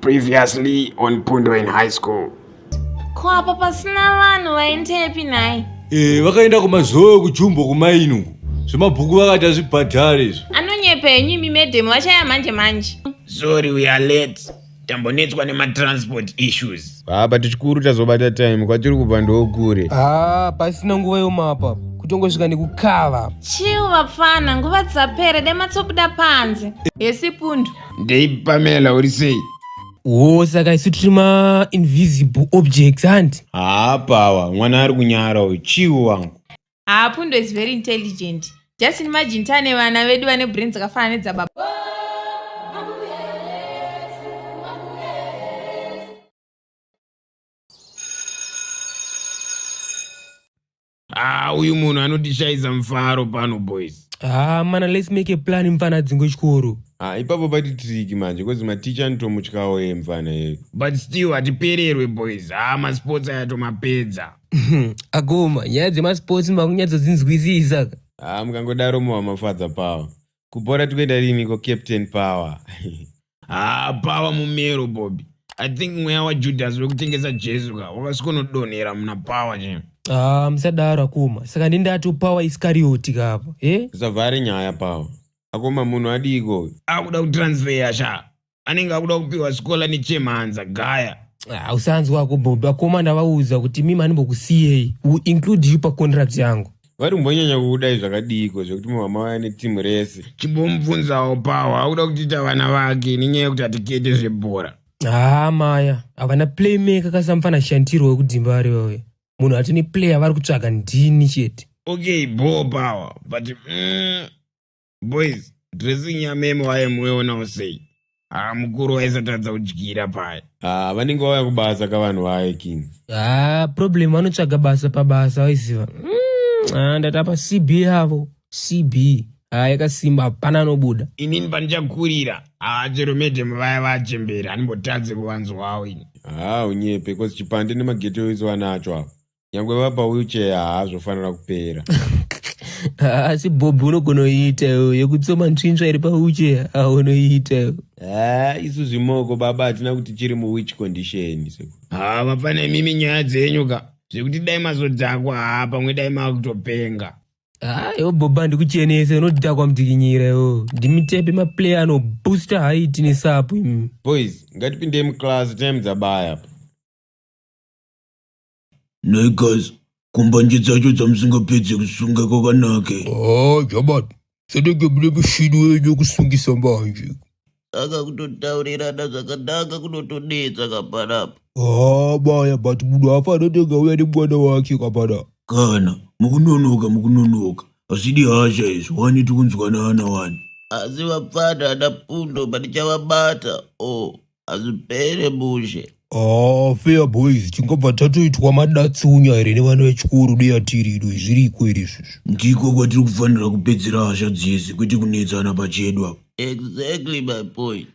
Previously on Pundo in high school. Ko apa pasina vanhu vaendepi nhai? Eh, vakaenda kumazowe kujumbo kumaini uko. Zvemabhuku vakati hazvibhadhare izvo. Anonyepa henyu imi madam vachaya manje manje. Sorry we are late. tambonetswa nematransport issues haa but chikuru tazobata time kwatiri kubva ndokure haa pasina nguva yomapa kutongosvika nekukava chiu vapfana nguva dzapere dai matsobuda panze hesi pundu ndei pamela uri sei wo saka isu tiri mainvisible objects hanti haa pawa mwana ari kunyara uyu chiu wangu haa pundo is very intelligent just imagine tane vana vedu vane brain dzakafanana nedzababa haa uyu munhu anotishayisa mufaro pano boys Ah, mana let's make a plan mfana dzingo chikoro. Ah, ipapo pati trick manje because my teacher anotomutyawo ye mfana ye. But still atipererwe boys. Ah, ma sports aya tomapedza. akoma nyaya dzemasports makunyadzodzinzwisisa ka Ah, mukangodaro mowa mafadza power kubhora tikuenda riniko captain power haa pava mumero bobi i think mweya wajudhasi wekutengesa jesu ka wakasikonodonhera muna power che ah musadaro akoma saka ndindati power iskarioti kapa e usavhare nyaya power akoma munhu adiiko akuda kutransfeya sha anenge akuda kupiwa sikola nechemhanza gaya ah, usanzwa kubhobha koma ndavaudza kuti mimi animbokusiyei u include you pacontract yangu vari kumbonyanya kudai zvakadiiko zvekuti mumama vaya netimu rese chimbomubvunzawo pawo akuda kutiita vana vake nenyaya yekuti hatikete zvebhora haa maya havana playmaker kasamfana shantirwo wekudzimba vari vave munhu hati neplayer vari kutsvaga ndini chete okay bho pawa but mm, boys dressing yameme waye muonawo sei haa mukuru waisatadza kudyira paya haa ah, vanenge vauya kubasa ka vanhu vaye king haa ah, problem vanotsvaga basa pabasa waiziva mm, ah, ndatapa cb yavo cb haa yakasimba hapana anobuda inini pandichakurira haa chero medem vaya vachembera andimbotadze kuvanzwawo ini haa unyepe bcause chipande nemagetoizi vanacho avo nyangwe vapa wheelchair haazvofanira kupera asi bhobhi unogona kuiita iwe yekutsoma ntsvintsva iri pawheelchair aa unoiita iwe ha isu zvimoko baba hatina kuti chiri muwhich condition seku ha vapa nemimi nyaya dzenyu ka zvekuti dai mazodhakwa ha pamwe dai maakutopenga haa iwe bhobhi handikuchenese unodhakwa mudzikinyira iwo ndimitepe maplayer anobooster haiti nesapu imi boys ngatipindei muclass time dzabaya apa Nhai guys, kumbanje dzacho dzamusingapedze kusunga kwakanake. Ah, Jabat, sadaka mune mushini wenyu wekusungisa manje. Saka kutotaurirana zvakanaka kunotonetsa kapanapa. Ah, baya, but munhu haafa anotenga uya nemwana wake kapana. Kana, mukunonoka mukunonoka. Hazvidi hasha izvi, wani tikunzwanana wani. Asi vapfana ana pundo patichavabata. Oh, hazvipere bushe haa fair boys tingobva tatoitwa madatsunya here nevana vechikoro deyatiri ido zviriko here izvozvo ndiko kwatiri kufanira kupedzera hasha dzese kwete kunetsana pachedu apa exactly my point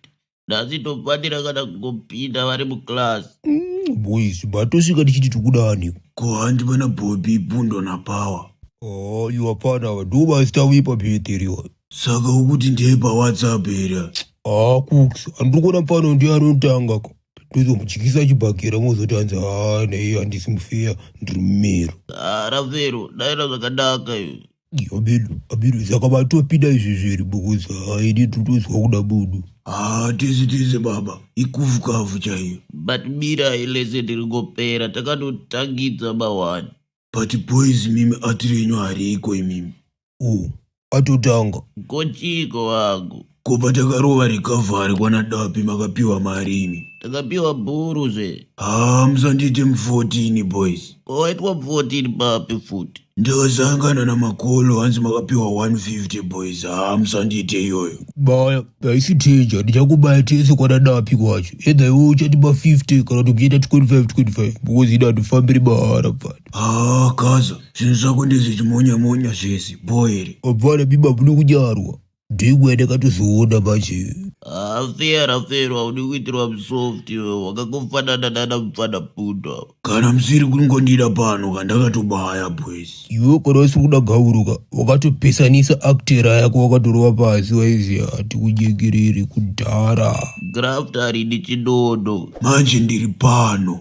nhasi tofanira kana kungopinda vari muclass Mm, boys batosvika tichiti tikuda aniko ko handi vana bobi bundo napower haa iwapana ava ndovasita vepa bhedheri ava saka ukuti ndeye pawhatsapp here haa kux andiri kuona pano ndiye anotanga ka tozomudyisa chibhakera mozoti hanzi haa nei handisi mufeya ndiri mumero arafero daira zvakanaka izvi abedu abedu saka vatopida izvi zviri because haidi totozwa kuda budu haa tese tese baba ikufukafu chaiyo but mirai lese tiringopera takatotangidza mahwani but boys mimi ati renyu hariko imimi u atotanga kochiko wangu ko patakarova recovery kwana dapi makapiwa mari imi takapiwa bhuru zve haa musandiite mu14 boys ko waitwa 14 papi futi ndakasangana namakolo hanzi makapiwa 150 boys haa musandiite iyoyo baya Haisi danger, ndichakubaya tese kwadadapi kwacho. Either iwe uchatipa 50 kana kuti kuchiita 25 25 because ida hatifambiri mahara pfana. Ah, kaza, zvinhu zvako ndezve chimonya monya zvese, boyere. Apana biba bune kudyarwa. Ndiko yandakatozoona manje. Afear afear haudi kuitirwa musoft iwe wakangofanana nana mupfana pundo. Kana musiri kungondida pano kandakatobaya boys. iwe kana usiri kuda gavuruka wakatopesanisa actera yako wakatorova pasi waiziva hati kujekerere kudhara graft harini chinono manje ndiri pano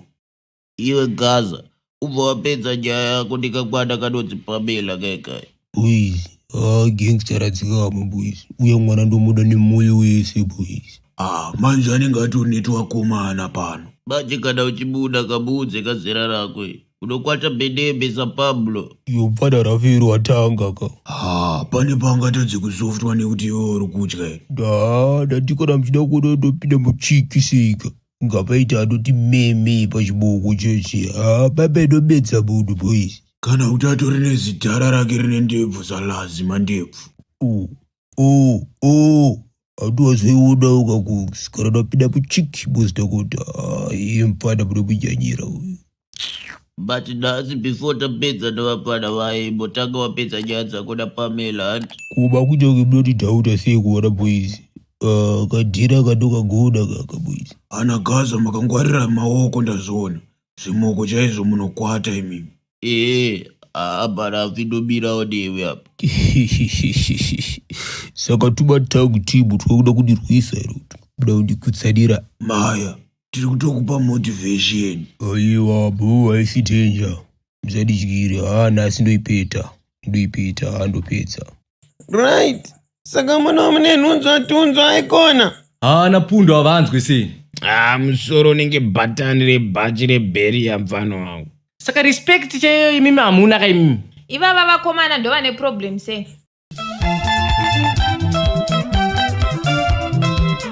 iwe gaza ubva wapedza nyaya yako ndikakwana kanonzi pamela kaikai boys ah gangster radzikama boys uya mwana ndomuda nemoyo wese boys ah manje anenge atori netoakomana pano manje kana uchimuda kamuudze kazera rako iri unokwata bedebe sapablo iyo pfada rafiro watanga ka haa pane pangatadze kusoftwa nekuti iwe uri kutya here ndaa ndati kana muchida kuona ndopinda muchikisika ngapaita anoti meme pachiboko chochi haa baba inobetsa munhu boys kana kuti atori nezidhara rake rine ndebvu zalazi mandebvu u Oh, oh, hatiwazviona ukakusikana napinda muchiki boss Dakota. Ah, iye mfana muda kunyanyira uyu. but nhasi before tapedza nevapfana vaye imbotanga wapedza nyaya dzako napamela hanti Kuba kuchonge munoti dauta sei kuona boys. Ah, kadhira kanokagona kaka boys. Ana Gaza makangwarira maoko ndazviona. Zvimoko chaizvo munokwata imimi. ee haa mhani avinobirawo newe apa saka tuma tangu timu twakuda kundirwisa here kuti kuda kundikutsanira maya tiri kutokupa motivation aiwa bhoo haisi danger musandidyire haa nhasi ndoipeta ndoipeta haa ndopedza Right. Saka mwana wamune nhunzwa tunzwa aikona. Haana pundo havanzwe sei. Ah, musoro unenge bhatani rebhachi rebheri yamfana wangu. Saka respect chaiyo imimi hamuna ka imimi. Ivava vakomana ndova ne problem sei?